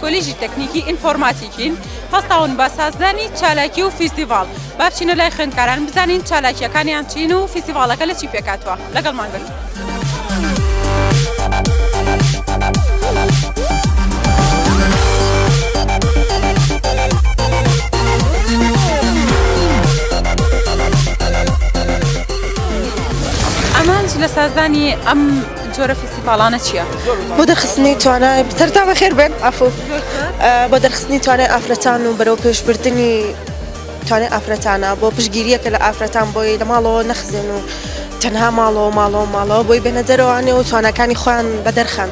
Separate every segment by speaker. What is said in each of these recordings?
Speaker 1: کۆلیژی تەکنیکی ئینفۆرماتیکین هەستاون بە سازدانی چالاکی و فیستیڤاڵ با بچینە لای خوێندکاران بزانین چالاکیەکانیان چین و فیستیڤاڵەکە لە چی پێکاتوە لەگەڵمان بن. ئامانج لە سازدانی ئەم جۆرە فیستیڤاڵانە چییە؟ بۆ دەرخستنی
Speaker 2: توانای سەرتا بەخێر بێن ئەفو بۆ دەرخستنی توانای ئافرەتان و بەرەو پێشبردننی توانای ئافرەتانە بۆ پشگیریەکە لە ئافرەتان بۆی لە ماڵەوە نەخزێن و تەنها ماڵەوە ماڵەوە ماڵەوە بۆی بێنە دەرەوانێ و توانەکانی خۆیان بە دەرخەن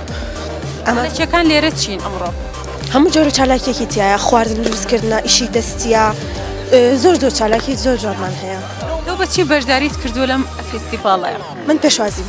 Speaker 2: ئەمەچەکان
Speaker 1: لێرە چین ئەمڕۆ هەموو جۆرە
Speaker 2: چالاکیەکی تایە خواردن دروستکردە ئیشی دەستە زۆر زۆر چالاکی زۆر جوانمان هەیە بەچی بەشداریت
Speaker 1: کردو لەم فیستیڤڵەیە من پێشوازیم.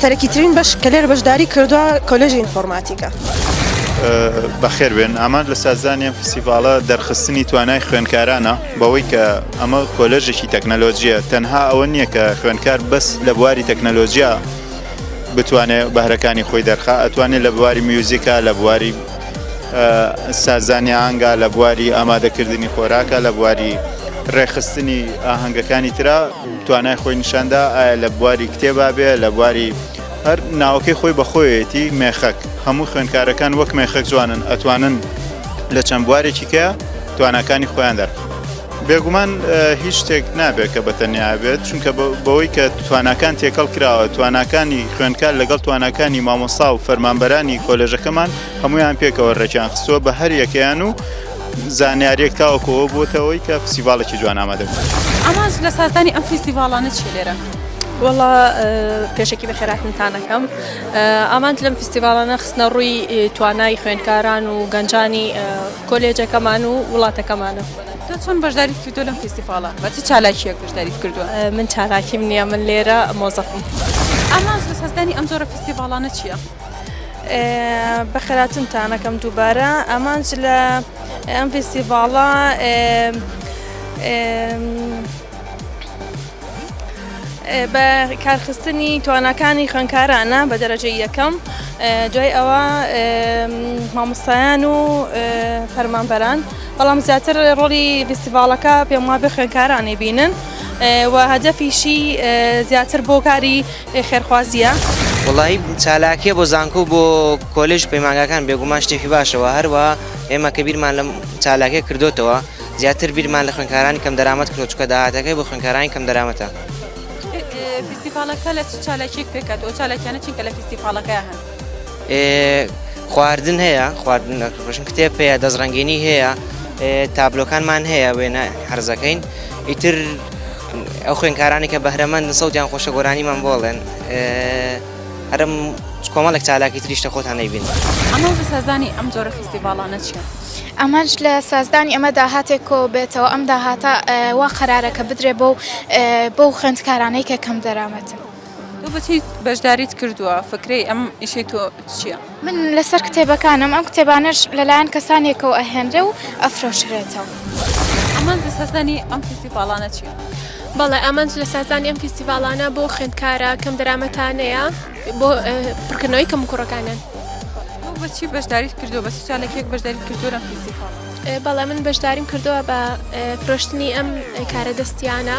Speaker 2: سەرەکیترین بەش کە لێرە بەشداری کردووە کۆلێژی ئینفۆرماتیکە.
Speaker 3: بەخێربێن ئامانج لە سازدانیان فسیڤالە دەرخستنی توانای خوێنکارانە بەوەی کە ئەمە کۆلێژێکی تەکنەلۆژیە تەنها ئەوە نییە کە خوێنکار بەس لە بواری تەکنەلۆژیا بتوانێت بەهرەکانی خۆی دەرخا ئەتوانێت لە بواری میوزیکا لە بواری سازانی ئانگا لە بواری ئامادەکردنی خۆراکە لە بواری ڕێخستنی ئاهەنگەکانی تررا توانای خۆی نیشاندا ئایا لە بواری کتێبا بێ لە بواری هەر ناوەکەی خۆی بەخۆیەتی مێخەک هەموو خوێنکارەکان وەک مێخەک جوانن ئەتوانن لە چەند بوارێکی کە تواناکانی خۆیان دەرخ بێگومان هیچ شتێک نابێت کە بەتەنیا بێت چونکە بەوەی کە تواناکان تێکەڵ کراوە تواناکانی خوێندکار لەگەڵ تواناکانی مامۆسا و فەرمانبەرانی کۆلێژەکەمان هەمویان پێکەوە ڕێکیان خستووە بە هەر یەکەیان و زانیاریەک تاوەکو ئەوە بووەتەوەی کە فستیڤاڵێکی جوان ئامادە بوو ئامانج لە سازدانی
Speaker 1: ئەم فستیڤاڵانە چی لێرە؟ وەڵا
Speaker 4: پێشکی بە خێراکنتانەکەم ئامانج لەم فستیڤالانە خستنە ڕووی توانای خوێندکاران و گەنجانی کۆلێجەکەمان و وڵاتەکەمانە تۆ چۆن بەشداری
Speaker 1: کردو لەم فستیڤالە بە چ چالاکیەک بەشداری کردووە من چالاکیم
Speaker 4: نییە من لێرە مۆزەفم ئامانج لە
Speaker 1: سازدانی ئەم جۆرە فستیڤالانە چییە؟
Speaker 4: بەخێراتنتانەکەم دووبارە ئامانج لە ئەم فیستیڤاڵە بە کارخستنی توانەکانی خوێنکارانە بە دەرەجە یەکەم دوای ئەوە مامۆستایان و فەرمانبەران بەڵام زیاتر ڕۆڵی فیستیڤاڵەکە پێم وابێ خوێنکارانی بینن. و هەدەفیشی زیاتر بۆ کاری ئێ خێرخوازییە؟ وەڵایی
Speaker 5: چالاکیە بۆ زانکۆ و بۆ کۆلێژ و پەیمانگاکان بێگومان شتێکی باشە وە هەروەها ئێمە کە بیرمان لەم چالاکیە کردۆتەوە زیاتر بیرمان لە خوێندکارانی کەم دەرامەت کرۆ چونکە داهاتەکەی بۆ خوێندکارانی کەم دەرامەتە. ئێ فیستیڤاڵەکە لە چ
Speaker 1: چالاکییەک پێکهاتووە؟ ئەو چالاکیانە چین کە لە فیستیڤاڵەکە هەن؟ خواردن
Speaker 5: هەیە خواردن لە ڕۆژن کتێب پێەیە دەستڕەنگینی هەیە تابلۆکانمان هەیە وێنە حرزەکەین ئیتر ئەو خوێنکارانی کە بەهرەمەند سەوتیان خۆشە گۆرانیمان بۆڵێن هەرم کۆمەڵێک چالاکی تریشتە خۆتان نەیبین ئەمە سازانی
Speaker 1: ئەم جۆرە فیستیڤالانە چیە؟ ئەمەش لە
Speaker 6: سازدانی ئەمە داهاتێک کۆ بێتەوە ئەم داهاتە وا قەرارەکە بدرێ بۆ بۆ خوێندکارانەی کە کەم دەرامەتن. تۆ بەچی
Speaker 1: بەشداریت کردووە فکرەی ئەم ئیشەی تۆ چییە؟ من لەسەر
Speaker 6: کتێبەکانم ئەم کتێبانەش لەلایەن کەسانێکەوە ئەهێنرێ و ئەفرۆشرێتەوە. ئەمان
Speaker 1: دەسەزانی ئەم فیستیڤاڵانە چییە؟ بەڵێ ئامانج
Speaker 7: لە سازانی ئەم فیستیڤاڵانە بۆ خوێندکارە کەم دەرامەتانەیە بۆ پڕکردنەوەی کەم کوڕەکانیان. بەچی
Speaker 1: بەشداریت کردو بە سوسیالێکێک بەشداری کردو لەم فیستیڤاڵ؟ بەڵێ من
Speaker 7: بەشداریم کردووە بە فرۆشتنی ئەم کارە دەستیانە.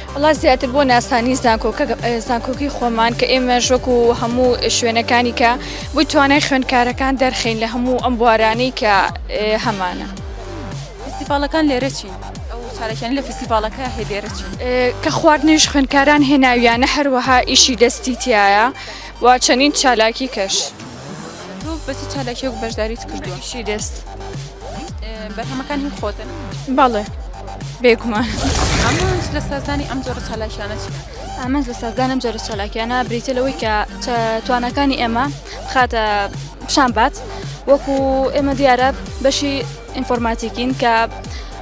Speaker 1: وەڵا زیاتر بۆ
Speaker 4: ناسانی زانکۆکە زانکۆکی خۆمان کە ئێمەش وەکو هەموو شوێنەکانی کە بۆی توانای خوێندکارەکان دەرخین لە هەموو ئەم بوارانەی کە هەمانە.
Speaker 1: فیستیڤاڵەکان لێرە چین؟ ئەو چالاکیانە لە فیستیڤاڵەکە هەیە لێرە چین؟ کە خواردنیش
Speaker 4: خوێندکاران هێناویانە هەروەها ئیشی دەستی تایە و چەندین چالاکی کەش. تۆ
Speaker 1: بە چ چالاکیەک بەشداریت کردووە شی دەست
Speaker 4: بەرهەمەکان
Speaker 1: هی خۆتن بەڵێ
Speaker 4: بێگومان ئەمانج
Speaker 1: لە سازدانی ئەم جۆرە چالاکیانە چی ئامانج لە سازدانم
Speaker 4: جۆرە چالاکیانە بریتە لەوەی کە توانەکانی ئێمە خاتە پیشان بات وەکو ئێمە دیارە بەشی ئینفۆرماتیکین کە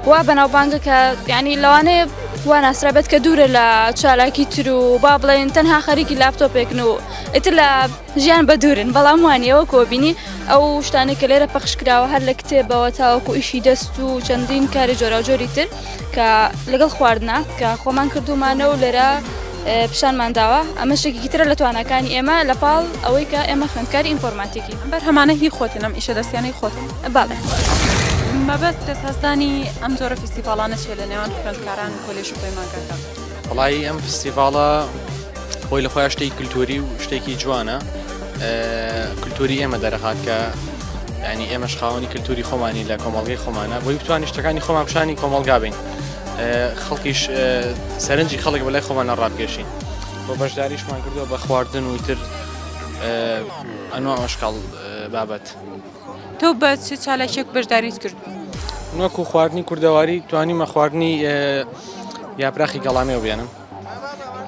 Speaker 4: وا بەناوبانگە کە یعنی لەوانەیە وا ناسرا بێت کە دوورە لە چالاکی تر و با بڵێن تەنها خەریکی لاپتۆپێکن و ئیتر لە ژیان بە دوورن بەڵام وانە وەک وەبینی ئەو شتانێک کە لێرە پەخش کراوە هەر لە کتێبەوە تاوەکو ئیشی دەست و چەندین کاری جۆراوجۆری تر کە لەگەڵ خواردنا کە خۆمان کردومانە و لێرە پیشانمان داوە ئەمە شێکی ترە لە توانەکانی ئێمە لە پاڵ ئەوەی کە ئێمە خوێندکاری ئینفۆرماتیکی بەر هەمانە هی خۆتن
Speaker 1: ئەم ئیشە دەستیانی خۆت باڵێ.
Speaker 4: مەبەست
Speaker 1: کەس هەستانی ئەم جۆرە فیسیڤاڵانە چێ لە نێوان خوێندکاران و کۆلێژ و پەیمانگاکان؟ وەڵایی ئەم
Speaker 8: فستیڤاڵە خۆی لە خۆیان شتێکی کلتوری و شتێکی جوانە کلتوری ئێمە دەرەخات کە ینی ئێمەش خاوەنی کلتوری خۆمانی لە کۆمەڵگەی خۆمانە بۆی بتوانانی شتەکانی خۆمان پیشانی کۆمەڵگا بین خەڵکیش سەرنجی خەڵک بەلای خۆمانە ڕابگەشین بۆ بەشداریشمان کردو بە خواردن وتر ئەنوە ئەشکاڵ بابەت. تۆ
Speaker 1: بە چ چالاکیەک بەشداریت کردووە؟ من وەکو خواردنی
Speaker 8: کوردەواری توانیمە خواردنی یاپراخی گەڵامێو بێنم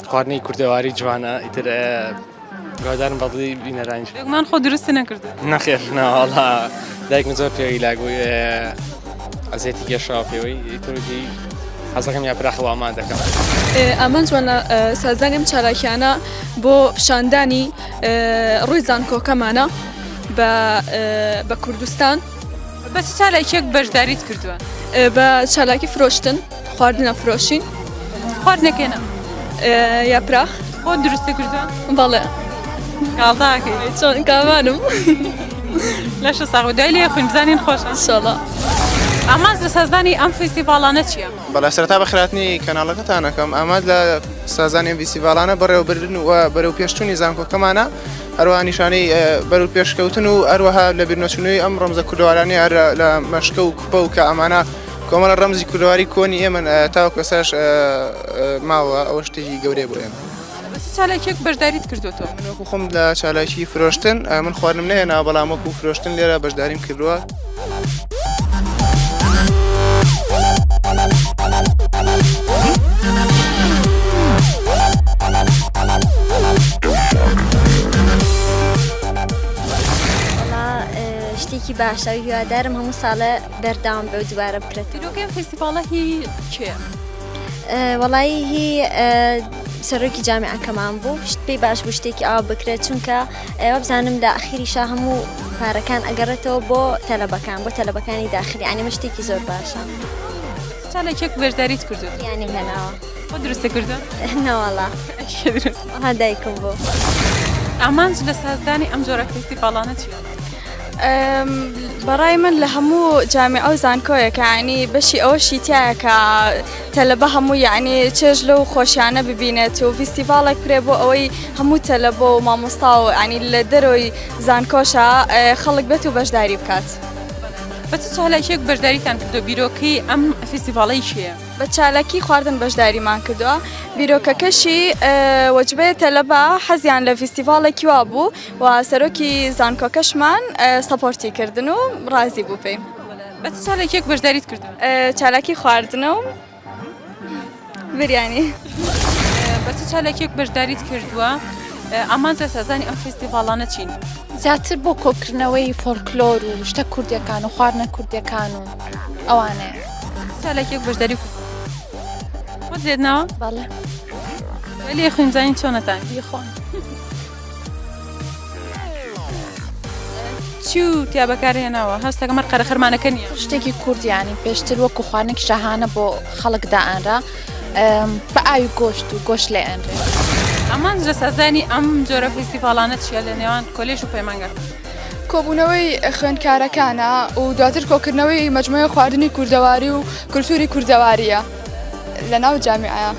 Speaker 8: خواردنی کوردەواری جوانە ئیتر گۆدارم بەڵی بینەرانی من خۆ درست
Speaker 1: نەکرد نەخێر ناوەڵا
Speaker 8: دایکم زۆر پێوی لاگوی ئەزێتی گەشا پێوەی ترجی حەزەکەم یاپراخە وامان دەکەم ئەمەند جوانە
Speaker 9: سازانیم چالاکیانە بۆ پیشاندانی ڕووی زانکۆکەمانە. بە بە کوردستان بە چ
Speaker 1: چالاکیەک بەشداریت کردووە بە
Speaker 9: چالاکی فرۆشتن خواردنە فرۆشین خواردنەکەێنە یاپراخ بۆ دروستە
Speaker 1: کردووە بەڵێ
Speaker 9: کاڵداکە
Speaker 1: چۆن
Speaker 9: کاوانم
Speaker 1: لەشە ساغ دوای لێ خوین بزانین خۆش شڵە
Speaker 9: ئاماز
Speaker 1: لە سازدانی ئەم فیستیڤالانە چییە؟ بەڵا سەرتا بە خراپنی
Speaker 10: کەناڵەکەتانەکەم ئاماد لە سازانی ئەم فیستیڤالانە بەڕێوەبردن و بەرەو پێشتونی زانکۆکەمانە هەروەها نیشانەی بەرەو پێشکەوتن و هەروەها لە بیرنەچوونەوەی ئەم ڕەمزە کوردەوارانی هەر لە مەشکە و کوپە و کە ئەمانە کۆمەڵە ڕەمزی کوردەواری کۆنی ئێمە تاو کەساش ماوە ئەوە شتێکی گەورەیە بۆ ئێمە. چالاکیەک
Speaker 1: بەشداریت کردوەوە من وەکو خۆم لە
Speaker 10: چالاکی فرۆشتن من خوارنم نەهێنا بەڵام وەکو فرۆشتن لێرە بەشداریم کردووە.
Speaker 11: شتێکی باشە هیوادارم هەموو ساڵە بەرداوام بە دووارە بکرێت تیرۆکەم فستیڤالە
Speaker 1: هی کێ؟
Speaker 11: وەڵی هی سەرۆکی جامعەکەمان بوو شت پێی باش بوو شتێکی ئاو بکرێت چونکە وابزانم لە ئەخیریشا هەموو پارەکان ئەگەڕێتەوە بۆ تەلەبەکان بۆ تەلەبەکانی داخلی ئەنیمە شتێکی زۆر باشە ساڵێکێک
Speaker 1: بەشداریت کردو ینی هێناوە
Speaker 11: خۆ دروستە کردو
Speaker 1: ناوەڵا
Speaker 11: ها دایکم بۆ ئامانج
Speaker 1: لە سازدانی ئەم جۆرە کەسی باڵانە چیە؟
Speaker 4: بەڕای من لە هەموو جامعە و زانکۆیەکانی بەشی ئەوە شیتایەکە تەلەبە هەموو یەعنی چێژ لەو خۆشیانە ببینێت و فیستیڤاڵێک کرێ بۆ ئەوەی هەموو تەلەبە و مامۆستا و عنی لە دەرۆی زانکۆشە خەڵک بێت و بەشداری بکات. بە چ
Speaker 1: چالاکیەک بەشداریتان کردو بیرۆکەی ئەم فیستیڤاڵەی چیە؟ بە چالاکی
Speaker 4: خواردن بەشداریمان کردوە بیرۆکەکەشی وەجبەیە تەلەبە حەزیان لە فیستیڤاڵێکی وا بوو و سەرۆکی زانکۆکەشمان سەپۆرتی کردن و ڕازی بوو پێی. بە چ چالاکییەک
Speaker 1: بەشداریت کردووە؟ چالاکی خواردنە
Speaker 4: و بریانی. بە چ
Speaker 1: چالاکییەک بەشداریت کردووە؟ ئامانجە سازانی ئەم فستیڤاڵانە چین؟ زیاتر بۆ
Speaker 12: کۆکردنەوەی فۆلکلۆر و شتە کوردەکان و خواردنە کوردەکان و ئەوانەیە. چالاکیەک
Speaker 1: بەشداری کرد خۆت لێت ناوە؟ بەڵێ. ولی خوێنزانین چۆنەتان؟ یخۆن. چی و تیا بەکارهێناوە هەست دەکەم هەر قەرەخەرمانەکە نیە شتێکی کوردیانی
Speaker 12: پێشتر وەکو خواردنێکی شاهانە بۆ خەڵک دائەنرا ئەم، بە ئاوی گۆشت و گۆشت لێ ئەنرێ ئەمان جە
Speaker 1: سازانی ئەم جۆرە فیستیڤاڵانە چیە لە نێوان کۆلێژ و پەیمانگا کۆبوونەوەی
Speaker 9: خوێندکارەکانە و دواتر کۆکردنەوەی مجموعەی خواردنی کوردەواری و کولتوری کوردەواریە. لە ناو جامیعەیا.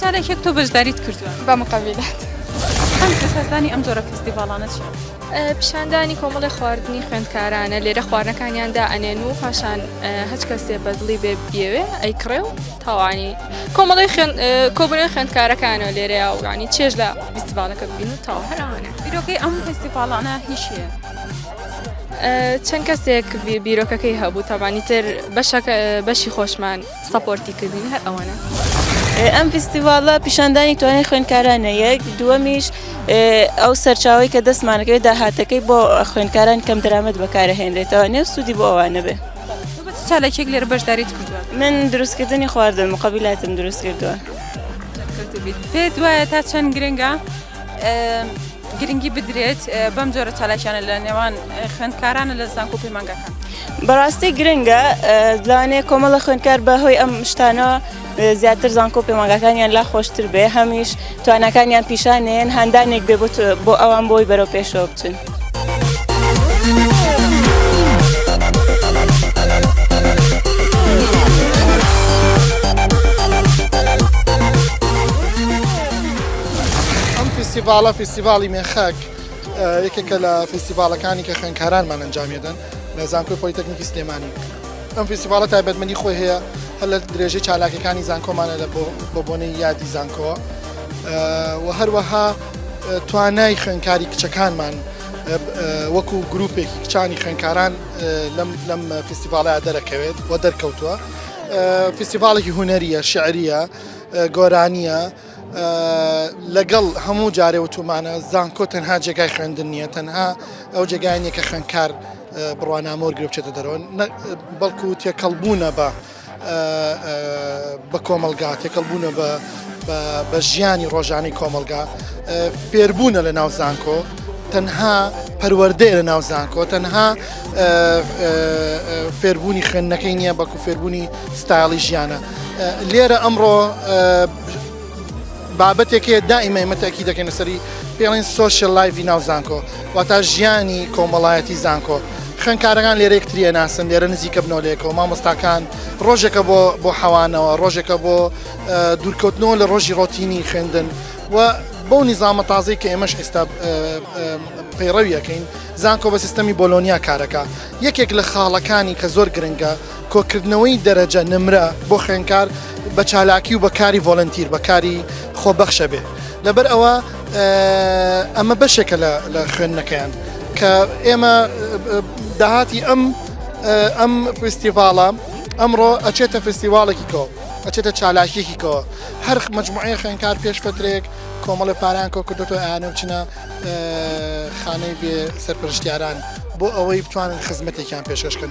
Speaker 9: جارێک یەک تۆ
Speaker 1: بەژداریت کردووە؟ بە مقەویلات.
Speaker 9: ئەم
Speaker 1: پێشهاتانەی ئەم جۆرە فیستیڤاڵانە چییە؟ پیشاندانی
Speaker 7: کۆمەڵێ خواردنی خوێندکارانە، لێرە خواردنەکانیان دائەنێن و پاشان هەچ کەسێ بە دڵی بێ بیەوێ ئەیکڕێ و تاوانی کۆمەڵی کۆبنەوەی خوێندکارەکانەوە لێرەیە و یانی چێژ لە فیستیڤاڵەکە ببین و تاوە هەر ئەوانە. بیرۆکەی ئەم فیستیڤاڵانە
Speaker 1: هیچ شتێ؟
Speaker 7: چەند کەسێک بیرۆکەکەی هەبوو تابانی تر بەشەکە بەشی خۆشمان سەپۆرتی کردین هەر ئەوەنە ئەم
Speaker 2: فیستیڤالە پیشاندانی توانای خوێندکارانە یەک دووەمیش ئەو سەرچاوی کە دەستمانەکەی داهاتەکەی بۆ خوێندکاران کەم درامەت بەکارهێنرێتەوە نێ سوودی بۆ ئەوانە بێ سالێکێک
Speaker 1: لێرە بەشداریت کردووە من دروستکردنی
Speaker 2: خواردن مقابلاتم دروست کردووە پێت
Speaker 1: وایە تا چەند گرنگە گرنگی بدرێت بەم جۆرە چالاکیانە لە نێوان خوێندکارانە لە زانکۆ و پەیمانگاکان بەڕاستی
Speaker 2: گرنگە لەوانەیە کۆمەڵە خوێندکار بە هۆی ئەم شتانەوە زیاتر زانکۆ پەیمانگاکانیان لا خۆشتر بێ هەمیش توانەکانیان پیشانێن هاندانێک بێ بۆ ئەوان بۆی بەرەو پێشەوە بچن.
Speaker 10: ئەم فیستیڤاڵە فیستیڤاڵی مێخەک یەکێکە لە فیستیڤالەکانی کە خوێنکارانمان ئەنجامێدەن لە زانکۆی پۆلیتەکنیکی سلێمانی ئەم فیستیڤالە تایبەتمەنی خۆی هەیە هەر لە درێژەی چالاکەکانی زانکۆمانە لە بۆ بۆنەی یادی زانکۆ و هەروەها توانای خوێنکاری کچەکانمان وەکو گرروپێکی کچانی خوێنکاران لەم فیستیڤالە دەرەکەوێت و دەرکەوتووە فیستیڤالێکی هوەریە شعریە گۆرانیە لەگەڵ هەموو جارێ وتومانە زانکۆ تەنها جێگای خوێندن نییە تەنها ئەو جێگای نیە کە خوێندکار بڕوانامە وەرگرە بچێتە دەرەوە بەڵکو تێکەڵبوونە بە بە کۆمەلگا تێکەڵبوونە بە بە ژیانی ڕۆژانی کۆمەلگا فێربوونە لە ناو زانکۆ تەنها پەروەردەیە لە ناو زانکۆ تەنها فێربوونی خوێندنەکەی نییە بەکو فێربوونی ستایڵی ژیانە لێرە ئەمڕۆ بابەتێکێ دائیمە ئمە تاکی دەکەن سەری پێڵین سوۆشل لایڤی ناو زانکۆ واتا ژیانی کۆمەڵایەتی زانکۆ خوێنکارەکان لێرە یەکتریە ناسن لێرە نزیکە بنەوەلێکەوە مامۆستاکان ڕۆژێکە بۆ بۆ حەوانەوە ڕۆژێکە بۆ دوورکەوتنەوە لە ڕۆژی ڕۆتینی خوێندن و بەو نیزامە تازەی کە ئێمەش ئێستا پەیڕەویەکەین زانکۆ بە سیستەمی بۆلۆنیا کارەکە یەکێک لە خاڵەکانی کە زۆر گرنگە کۆکردنەوەی دەرەجە، نمرە، بۆ خوێندکار بە چالاکی و بە کاری ڤۆلەنتیر، بە کاری خۆبەخشە بێ. لەبەر ئەوە ئەمە بەشێکە لە خوێندنەکەیان کە ئێمە داهاتی ئەم ئەم فستیڤاڵە ئەمڕۆ ئەچێتە فستیواڵێکی کۆ ئەچێتە چالاکیێکی کۆ هەر مجموعەیە خوێنکار پێش فترێک کۆمەڵە پاران کۆ کردوەوە ئاانە بچنە خانەی بێ سەرپەرشتیاران بۆ ئەوەی بتوانن خزمەتێکیان پێشکەشکن.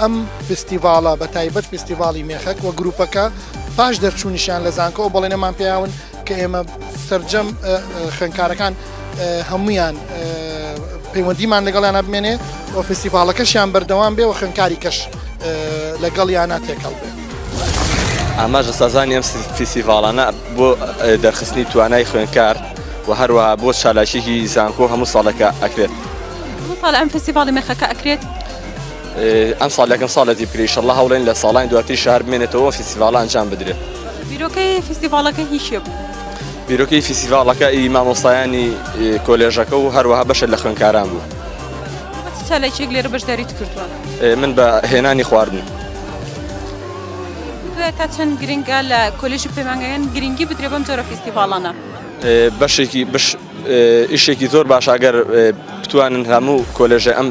Speaker 10: ئەم فستیڤاڵە بە تایبەت فستیڤاڵی مێخەک و گروپەکە پاش دەرچوونیشان لە زانکۆ ئەو بەڵێنەمان پیاون کە ئێمە سرجەم خوێنکارەکان هەمویان پەیوەندیمان لەگەڵیان بمێنێ و فستیڤاڵەکەشیان بەردەوام بێ و خوێنکاری کەش لەگەڵ یانە تێکەڵ بێ. ئاماژ
Speaker 13: لە سازانی ئەم فیسیڤاڵانە بۆ دەرخستنی توانای خوێنکار و هەروە بۆ چالاکیی زانکۆ هەموو ساڵەکە ئەکرێت. ساڵ ئەم
Speaker 1: فستیڤاڵی مێخەکە ئەکرێت
Speaker 13: ئەم ساڵ لەکەم ساڵەتی بکری شەڵە هەوڵێن لە ساڵانی دواتری شار بمێنێتەوە فیسیڤالان جان بدرێت بیرۆکەی
Speaker 1: فیسیڤالەکە هیچە بوو بیرۆکەی
Speaker 13: فیسیڤالەکە ئی مامۆستایانی کۆلێژەکە و هەروەها بەشە لە خوێنکاران بوو
Speaker 1: سالێکێک لێرە بەشداریت کردووە من بە
Speaker 13: هێنانی خواردن
Speaker 1: تا چەند گرنگە لە کۆلێژی پەیمانگەیان گرنگی بدرێ بەم جۆرە فیسیڤالانە بەشێکی
Speaker 13: بش ئیشێکی زۆر باش ئەگەر بتوانن هەموو کۆلێژە ئەم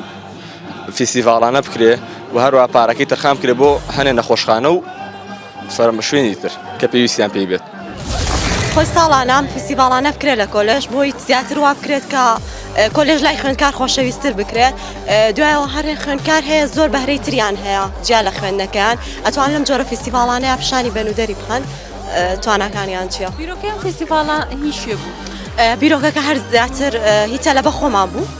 Speaker 13: فیستیڤاڵانە بکرێ و هەروە پارەکەی تەرخان بکرێ بۆ هەنێ نەخۆشخانە و سەرمە شوێنی تر کە پێویستیان پێی بێت خۆی
Speaker 2: ساڵانە فیستیڤاڵانە بکرێت لە کۆلێژ بۆی زیاتر وا بکرێت کە کۆلێژ لای خوێندکار خۆشەویستتر بکرێت دوایەوە هەرێ خوێندکار هەیە زۆر بەهرەی تریان هەیە جیا لە خوێندنەکەیان ئەتوان لەم جۆرە فیستیڤاڵانەیە پیشانی بەن و دەری
Speaker 1: بخەن تواناکانیان
Speaker 2: چیە بیرۆکەیان فیستیڤاڵە هیچێ
Speaker 1: بوو
Speaker 2: بیرۆکەکە هەر زیاتر هیچە لە بە خۆمان بوو.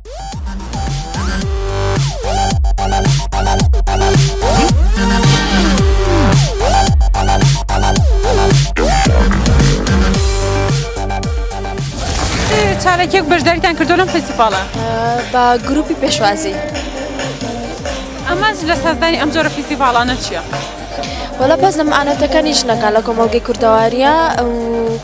Speaker 1: چارەکێک بەشداریتان کردو لەم فستیڤالە بە
Speaker 12: گروپی پێشوازی
Speaker 1: ئەمەز لە سازدانی ئەم جۆرە فستیڤالانە چییە؟ وەڵا بەس
Speaker 12: لەم ئاەتەکانی ژنەکان لە کۆمەڵگەی کوردەواریە ئەو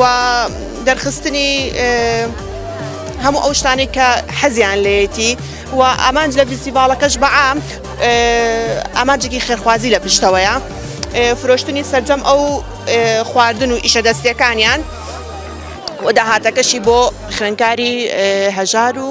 Speaker 2: و دەرخستنی هەموو ئەو شتانی کە حەزیان لێتی و ئامانج لە فیستیڤالەکەش بەعام ئامانجێکی خێرخوازی لە پشتەوەیە فرۆشتنی سەرجەم ئەو خواردن و ئیشە دەستەکانیان و داهاتەکەشی بۆ خوێنکاری هەژار و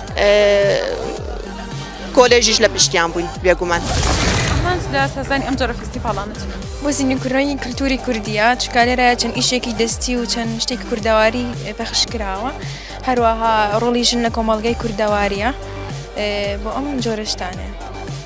Speaker 2: کۆلێژیش لە پشتیان بووین بێگومان.
Speaker 1: سەزانی ئەم جۆرە فستیڤاڵانت بۆزیینی کوڕی
Speaker 9: کللتوری کوردیە چکارێرایە چەند ئیشێکی دەستی و چەند شتێک کوردەواری پەخش کراوە هەروەها ڕۆڵی ژن لە کۆمەڵگەی کوردەواریە بۆ ئەم جۆرەشتانێ.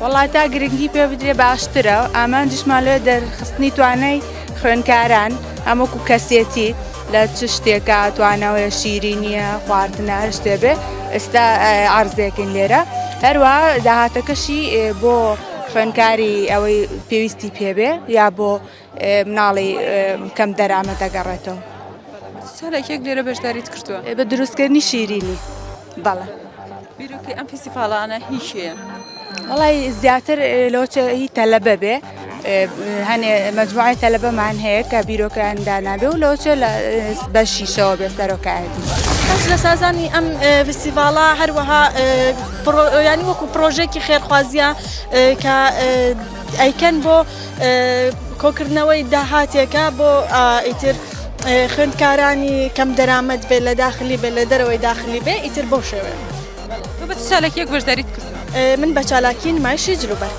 Speaker 1: وەڵا تا
Speaker 14: گرنگی پێ بدرێ باشترە ئامانجیشمان لێ دەرخستنی توانای خوێنکاران ئەمەکو کەسێتی لە چ شتێکە توانەوەیە شیری نییە خواردنە هەر شتێ بێ ئێستا ئارزێکن لێرە هەروە داهاتەکەشی بۆ خوێنکاری ئەوەی پێویستی پێبێ یا بۆ مناڵی کەم دەرامەت دەگەڕێتەوە. سالاکیەک
Speaker 1: لێرە بەشداریت کردووە؟ بە دروستکردنی
Speaker 14: شیرینی بەڵێ. بیرۆکەی
Speaker 1: ئەم فیسیڤاڵانە هی کێیە؟ وڵی
Speaker 14: زیاتر لەوچەی تەلەبە بێ هەنێ مەجموعی تەلەبەمان هەیە کە بیرۆکەیان دانابێ و لەوچە لە بە شیشەوە بێ سەرۆکایەتی. کەس لە سازانی
Speaker 2: ئەم فیسیڤاڵە هەروەها ینی وەکو پرۆژێکی خێرخوازیە کە ئەیکەن بۆ کۆکردنەوەی داهاتێکە بۆ ئیتر خوێندکارانی کەم دەرامەت بێ لە داخلی بێ لە دەرەوەی داخلی بێ ئیتر بۆ شێوێ
Speaker 1: سالێکیەک بەشداریت کرد من بە چالاکی
Speaker 2: نمایشی جلوبەرگ.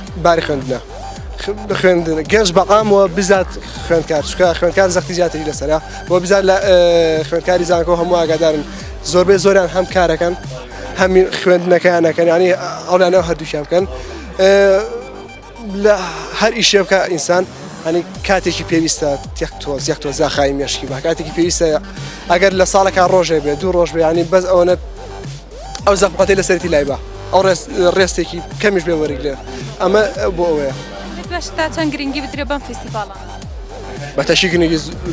Speaker 15: باری خوێندنە خوێندن گەنج بەقامەوە بزات خوێندکار چکە خوێندکار زەختی زیاتری لەسرە بۆ بزار لە خوێندکاری زانکۆ هەموو ئاگادارن زۆربەی زۆران هەم کارەکەن هەمین خوێندنەکەیانەکەن ینی ئەولانە هەردووشیان بکەن لە هەر ئیشێ بکە ئینسان هەنی کاتێکی پێویستە تێک تۆ زیێک تۆ زاخای مێشکی بە کاتێکی پێویستە ئەگەر لە ساڵەکە ڕۆژێ بێ دوو ڕۆژ بیانی بەس ئەوەنە ئەو زەحمەتەی لەسەرتی لای بە ئەو ڕێستێکی کەمیش بێ وەرگ لێ ئەمە بۆ ئەوەیە تا چەند
Speaker 1: گرنگی بدرێ بەم فیسیڤاڵە بەتەشی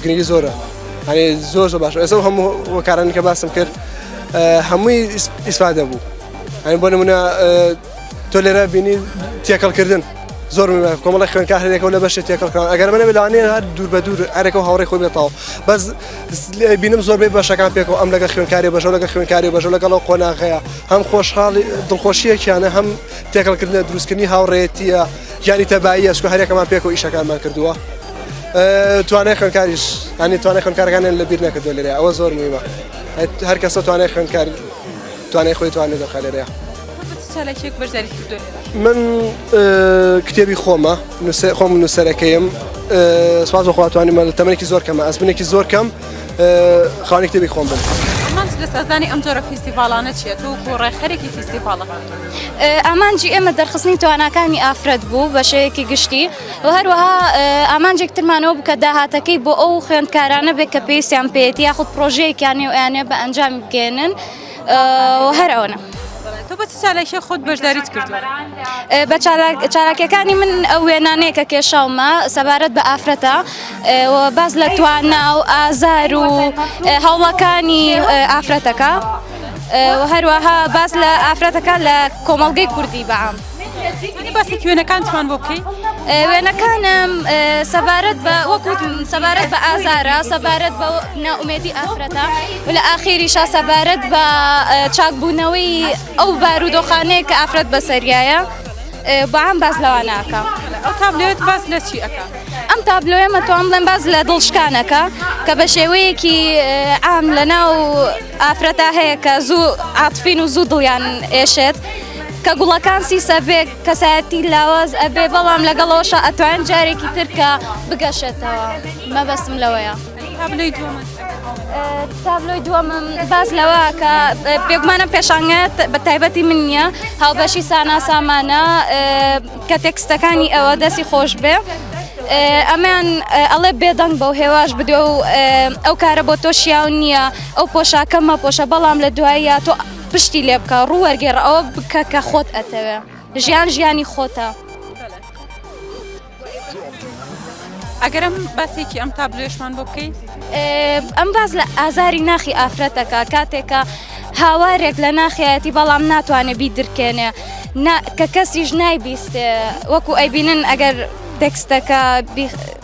Speaker 15: گرنگی زۆرە هەێ زۆر زۆر باش ئێسە هەموو وەکارانی کە باسم کرد هەمووی ئیسفادە بوو هەین بۆ نمونە تۆ لێرە بینی تێکەڵکردن زۆر کۆمەڵی خوێنکار هەرێکەوە لە بەشێ تێکەڵکان ئەگەر منە بلانێ هەر دوور بە دوور هەرێکەوە هاوڕێ خۆی بێتەوە بەس بینم زۆربەی بەشەکان پێکەوە ئەم لەگە خوێنکاری بەژە لەگە خوێنکاری بەژە لەگەڵەوە قۆناغەیە هەم خۆشحاڵی دڵخۆشیەکیانە هەم تێکەڵکردنە دروستکردنی هاوڕێتیە یانی تەبایی ئەسکو هەرێکەمان پێکەوە ئیشەکانمان کردووە. توانای خوێنکاریش هەنی توانای خوێنکارەکانیان لە بیر نەکردو لێرە ئەوە زۆر میمە هەر کەسە توانای خوێنکار توانای خۆی توانێت دەخە لێرەیە.
Speaker 1: خۆت بە چ چالاکیەک
Speaker 15: بەشداریت کردووە لێرە؟ من کتێبی خۆمە خۆم نووسەرەکەیم سواز بە خواتوانیمە لە تەمەێکی زۆر کەمە ئەسبنێکی زۆر کەم خانی کتێبی خۆم بن. لە سازدانی
Speaker 1: ئەم جۆرە فیستیڤالانە چیە تۆ بۆ ڕێکخەرێکی فیستیڤالە
Speaker 4: ئامانجی ئێمە دەرخستنی تواناکانی ئافرەت بوو بەشەیەکی گشتی و هەروەها ئامانجێک ترمانەوە بکە داهاتەکەی بۆ ئەو خوێندکارانە بێت کە پێویستیان پێێتی یاخود پرۆژەیەکیانی و یانە بە ئەنجام بگەێنن هەر ئەوەنە. تۆ بە چ
Speaker 1: چالاکیە خۆت بەشداریت کردووە؟ ئێ، بە چالاک-
Speaker 4: چالاکیەکانی من ئەو وێنانەیە کە کێشاومە سەبارەت بە ئافرەتە ئێ، و باس لە توانا و ئازار و ئێ هەوڵەکانی ئێ ئافرەتەکە ئێ، و هەروەها باس لە ئافرەتەکە لە کۆمەڵگەی کوردی بە عام. توانی باسی
Speaker 1: کوێنەکان توان بۆ بکەی وێنەکانم
Speaker 4: سەبارەت بە وەکوت سەبارەت بە ئازارە سەبارەت بە ناومێتی ئافرەتە و لە ئاخیری شا سەبارەت بە چاکبوونەوەی ئەو بارودۆخانەیە کە ئافرەت بەسەریایە بەعام باز لەواناکە ئەو تابلێت
Speaker 1: باز لە چی ئەەکە ئەم تابلۆە
Speaker 4: مەتوان بڵێن باز لە دڵشکانەکە کە بە شێوەیەکی ئام لە ناو ئافرەتا هەیە کە زوو عاتفین و زوو دڵیان ئێشێت کە گوڵەکان سیسەبێک کەسایەتی لاواز ئەبێ بەڵام لەگەڵەوەشە ئەتوان جارێکی ترکە بگەشێتەوە مەبەستم لەوەیە تابلۆی دووەمم باز لەوە کە پێگومانە پێشانگات بە تایبەتی من نییە هاوبەشی سانا سامانە کە تێکستەکانی ئەوە دەستی خۆش بێ. ئەمان ئەڵێ بێدەنگ بەو هێواش بدێ و ئەو کارە بۆ تۆ شیاو نییە ئەو پۆشاکەمە پۆشە بەڵام لە دوایە تۆ پشتی لێ بکە ڕوو وەرگێڕ ئەوە بکە کە خۆت ئەتەوێ ژیان ژیانی خۆتە.
Speaker 1: ئەگەرم باسێکی ئەم تا بلێشمان بۆ بکەی ئەم
Speaker 4: باز لە ئازاری ناخی ئافرەتەکە کاتێکە هاوارێک لە ناخیەتی بەڵام ناتوانێت بی درکێنێ کە کەسیش نایبیستێ وەکو ئەیبینن ئەگەر تێکستەکە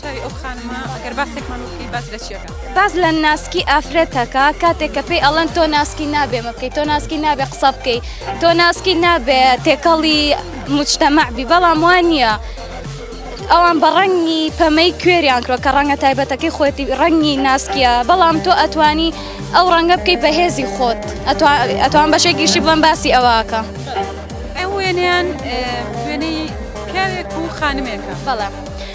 Speaker 1: چاوی ئەو خانمە ئەگەر باسێکمان وکەی باس لە
Speaker 4: چیەکە باس لە ناسکی ئافرەتەکە کاتێک کە پێی ئەڵەن تۆ ناسکی نابێ مەکەی تۆ ناسکی نابێ قسە بکەی تۆ ناسکی نابێ تێکەڵی مجتەمەعبی بەڵام وان نییە. ئەوان بە ڕەنگی پەمەی کوێریان کرۆ کە ڕەنگە تایبەتەکەی خۆتی ڕەنگی ناسکیە بەڵام تۆ ئەتوانی ئەو ڕەنگە بکەیت بە هێزی خۆت ئەتوان بەشێکیشی بڵم باسی ئەوەکە ئەو وێنیان
Speaker 1: وێنەی پیاوێک و خانمێکە بەڵام.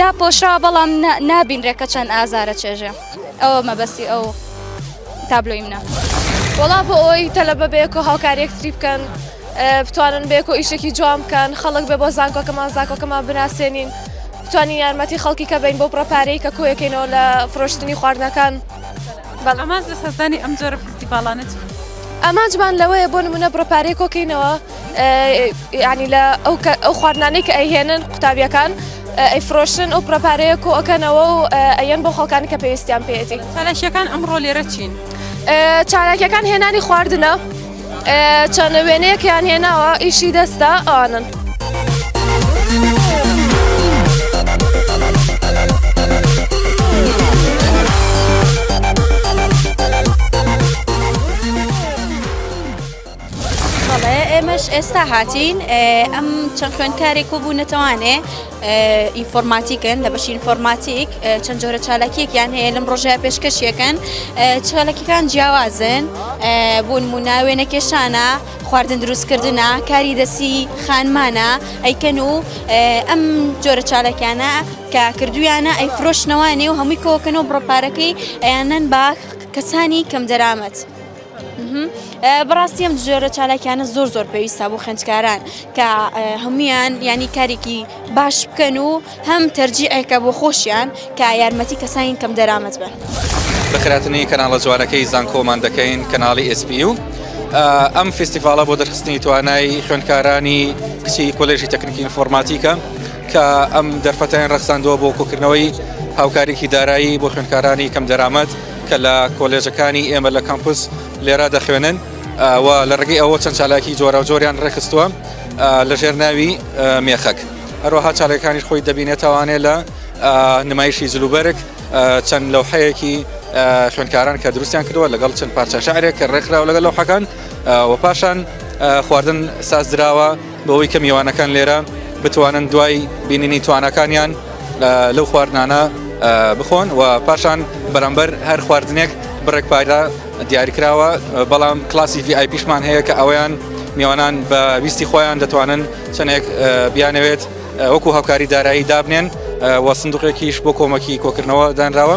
Speaker 4: داپۆشراوە بەڵام نابینرێ کە چەند ئازارە چێژێ ئەوە مەبەستی ئەو تابلۆی منە وڵا بۆ ئەوی
Speaker 12: تەلە بەبێک و هاوکاریەک تری بکەن بتوانن بێک و ئیشێکی جوان بکەن خەڵک بێ بۆ زانکۆکەمان زانکۆکەمان بناسێنین بتوانین یارمەتی خەڵکی کە بین بۆ پڕپارەی کە کۆیەکەینەوە لە فرۆشتنی خواردنەکان بەڵاماز
Speaker 1: لە سەردانی ئەم جۆرە فستیڤالانە ئامانجمان
Speaker 12: لەوەیە بۆ نمونە بڕپارەی کۆکەینەوە یعنی لە ئەو خواردنانەی کە ئەیهێنن قوتابیەکان ئەیفرۆشن ئەو پرەپارەیە کۆ ئەەکەنەوە و ئەەن بۆ خەڵکانی کە پێویستیان پێێتی چالاکیەکان ئەمڕۆ لێرە
Speaker 1: چین چالاکیەکان
Speaker 12: هێنانی خواردنە چەند وێنەیەکیان هێناوە ئیشی دەستە ئەوانن.
Speaker 16: بەڵێ ئێمەش ئێستا هاتین ئەم چەند خوێندکارێک و بوو نەتەوانێ ئینفۆرماتیکن لە بەشی ئینفۆرماتیک چەند جۆرە چالاکیەکیان هەیە لەم ڕۆژە پێشکەشیەکەن چالاکیەکان جیاوازن بوون موناوێ نەکێشانە خواردن دروستکردە کاری دەسی خانمانە ئەیکەن و ئەم جۆرە چالاکیانە کە کردویانە ئەی فرۆشنەوانێ و هەمووی کۆکەن و بڕپارەکەی ئەیانەن باخ کەسانی کەم دەرامەت. بەڕاستی ئەم جۆرە چالاکیانە زۆر زۆر پێویستە بۆ خنجکاران کە هەمویان ینی کارێکی باش بکەن و هەم تەرجیعێکە بۆ خۆشیان کە یارمەتی کەسانی کەم دەرامەت بن بەخراتنی
Speaker 17: کەناڵە جوانەکەی زانکۆمان دەکەین کەناڵی ئسپی و ئەم فستیڤالە بۆ دەرخستنی توانای خوێندکارانی کچی کۆلێژی تەکنیکی ئینفۆرماتیکە کە ئەم دەرفەتیان ڕخساندووە بۆ کۆکردنەوەی هاوکاریکی دارایی بۆ خوێندکارانی کەم دەرامەت کە لە کۆلێژەکانی ئێمە لە کەمپوس لێرا دەخوێنن و لە ڕگەی ئەوە چەند چالاکی جۆرا و جۆریان ڕێخستووە لەژێر ناوی مێخەک هەروەها چاالەکانی خۆی دەبینێتوانێت لە نمایشی جلوبەرگ چەند لەو حەیەکی خوێنکاران کە دروستیان کردووە لەگەڵ چەند پارچە شعرێک کە ڕێکخراوە لەگەڵ لەو حەکان و پاشان خواردن ساز دراوە بەوەی کە میوانەکان لێرە بتوانن دوای بینینی توانەکانیان لەو خواردنانە بخۆن و پاشان بەرامبەر هەر خواردنێک بڕێک پایدا دیاریکراوە بەڵام کلاسی VIP پیشمان هەیە کە ئەویان میوانان بە ویستی خۆیان دەتوانن چەندێک بیانەوێت وەکو هاوکاری دارایی دابنێن و سندوقێکیش بۆ کۆمەکی کۆکردنەوە دانراوە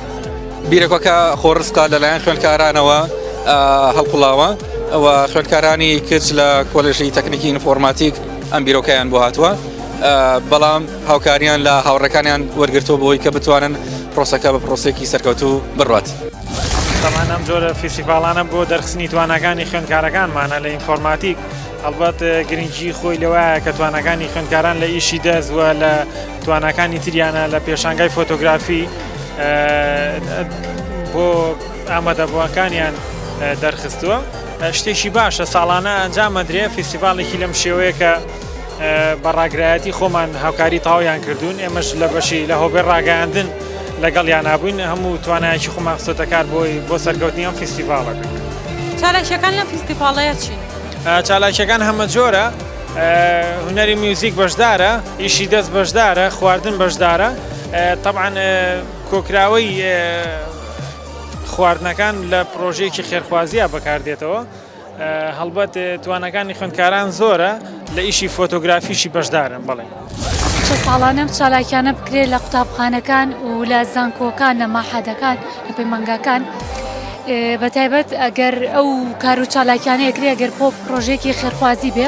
Speaker 1: بیرەکەکە
Speaker 17: خۆڕستا لەلایەن خوێندکارانەوە هەڵقڵاوە ئەوە خوێندکارانی کچ لە کۆلژی تەکنیکی ئینفۆرماتیک ئەم بیرۆکەیان بۆ هاتووە بەڵام هاوکاریان لە هاوڕەکانیان وەرگرتووە بۆی کە بتوانن پرۆسەکە بە پرۆسێکی سەرکەوتوو بڕات. تەمان
Speaker 18: ئەم جۆرە فیسیڤالانە بۆ دەرخستنی توانەکانی خوێندکارەکانمانە لە ئینفۆرماتیک هەڵبەت گرنگی خۆی لەوایە کە توانەکانی خوێندکاران لە ئیشی دەست وە لە تواناکانی تریانە لە پێشانگای فۆتۆگرافی بۆ ئامادەبووەکانیان دەرخستووە شتێکی باشە ساڵانە ئەنجامەدرێ فیسیڤالێکی لەم شێوەیە کە بەڕاگرایەتی خۆمان هاوکاری تاویان کردوون ئێمەش لە بەشی لە هۆبێ ڕاگەاندن لەگەڵ یانابووین هەموو توانایکی خۆمان خستۆتەکار بۆی بۆ سەرکەوتنی ئەم فیسیڤالەکە چالاکیەکان
Speaker 1: لە فیسیڤالەیە چین؟ چالاکیەکان
Speaker 18: هەمە جۆرە هونەری میوزیک بەشدارە ئیشی دەست بەشدارە خواردن بەشدارە طبعاان کۆکراوەی خواردنەکان لە پرۆژەیەکی خێرخوازیە بەکاردێتەوە هەڵبەت توانەکانی خوندکاران زۆرە لە ئیشی فۆتۆگرافیشی بەشدارن بڵێ. چە ساڵانە
Speaker 19: ئەم چالاکیانە بکرێت لە قوتابخانەکان و لە زانکۆکان لە ماحەدەکان لە پەیمانگاکان بە تایبەت ئەگەر ئەو کار و چالاکیانە ئەگرێ ئەگەر پۆ پرۆژێکی خێرخوازی بێ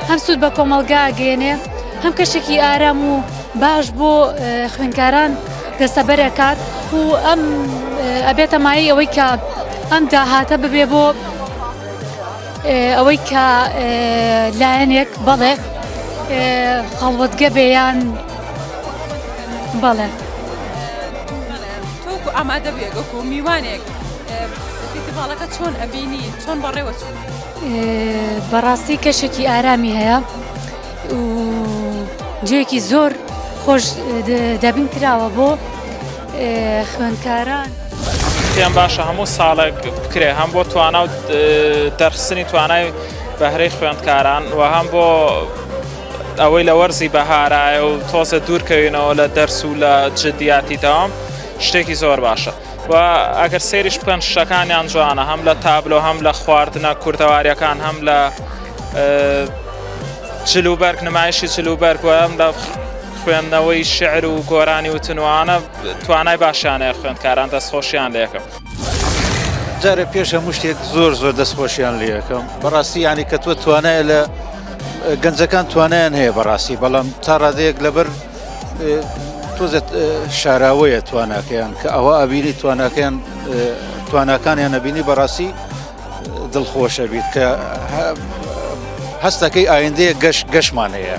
Speaker 19: هەم سوود بە کۆمەلگا گەێنێ هەم کەشێکی ئارام و باش بۆ خوێنکاران دەسەبەرەکات و ئەم ئەبێتە مای ئەوەی کە ئەم داهاتە ببێ بۆ ئەوەی کە لایەنێک بەڵێ خەڵوەتگە بێیان بەڵێ تۆکو ئامادە بێگەکو میوانێک فیتیڤاڵەکە چۆن ئەبینی چۆن بەڕێوە
Speaker 1: چون
Speaker 19: بەڕاستی کەشێکی ئارامی هەیە جوێکی زۆر خۆش دەبین کراوە بۆ خوێندکاران. پێم باشە
Speaker 20: هەموو ساڵێک بکرێ هەم بۆ توانا و دەرخستنی توانای بەهرەی خوێندکاران و هەم بۆ ئەوەی لە وەرزی بەهارایە و تۆزە دوورکەوینەوە لە دەرس و لە جددیاتی داوام شتێکی زۆر باشە و ئەگەر سێریش بکەن شەکانیان جوانە هەم لە تابلۆ هەم لە خواردنە کوردەواریەکان هەم لە جلوبەرگ نمایشی جلوبەرگ وەم لە خوێندنەوەی شعر و گۆرانی و تنوانە توانای باشیانەیە خوێندکاران دەستخۆشیان لەکەم.
Speaker 21: جارە پێش هەموو شتێک زۆر زۆر دەستخۆشیان لەکەم بەڕاستی ینی کە تۆ توانای لە گەنجەکان توانیان هەیە بەڕاستی بەڵام تا ڕادەیەک لەبەر تۆزت شاراوەیە تواناکەیان کە ئەوە ئەبینی تواناکەیان تواناکانیان نەبینی بەڕاستی دڵخۆشە بیت کە هەستەکەی ئایندەیە گەش گەشمان هەیە.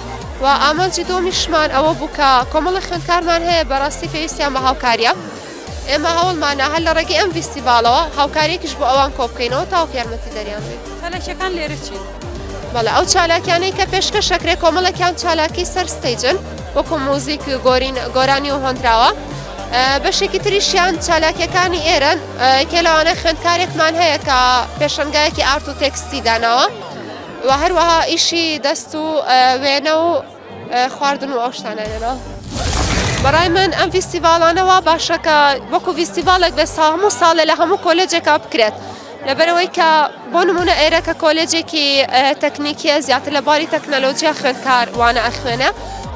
Speaker 12: و ئامانجی دووەمیشمان ئەوە بوو کە کۆمەڵی خوێندکارمان هەیە بەڕاستی پێویستیان بە هاوکاریە ئێمە هەوڵمانە هەر لە ڕێگەی ئەم ویستیڤالەوە هاوکارێکیش بۆ ئەوان کۆبکەینەوە تاوکە یارمەتی دەریان بین چالاکیەکان لێرەچی
Speaker 1: بەڵێ ئەو
Speaker 12: چالاکیانەی کە پێشکە شەکرێ کۆمەڵەکیان چالاکی سەر ستەیجن وەکو موزیک گۆرین گۆرانی و هۆندراوە بەشێکی تریشیان چالاکیەکانی ئێرەن کێلاوانە خوێندکارێکمان هەیە کە پێشنگایەکی ئارت و تێکستی داناوە. و هەروەها ئیشی دەست و وێنە و خواردن و ئەو شتانە لێنەوە. بەڕای من ئەم فیستیڤالانەوە باشەکە وەکو فیستیڤالێک بێ ساهموو ساڵێ لە هەموو کۆلێجێکا بکرێت لەبەرەوەی کە بۆ نمونە ئێرە کە کۆلێجێکی تەکنیکیە زیاتر لە باری تەکنەلۆجییا خوێندکار وانە ئەخوێنە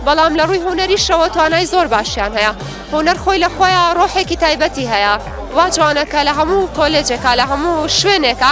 Speaker 12: بەڵام لە ڕووی هوەریشەوە توانای زۆر باشیان هەیە هوەر خۆی لە خۆیان ڕۆحێکی تایبەتی هەیە وا جوانەکە لە هەموو کۆلێجێکا لە هەموو شوێنێکە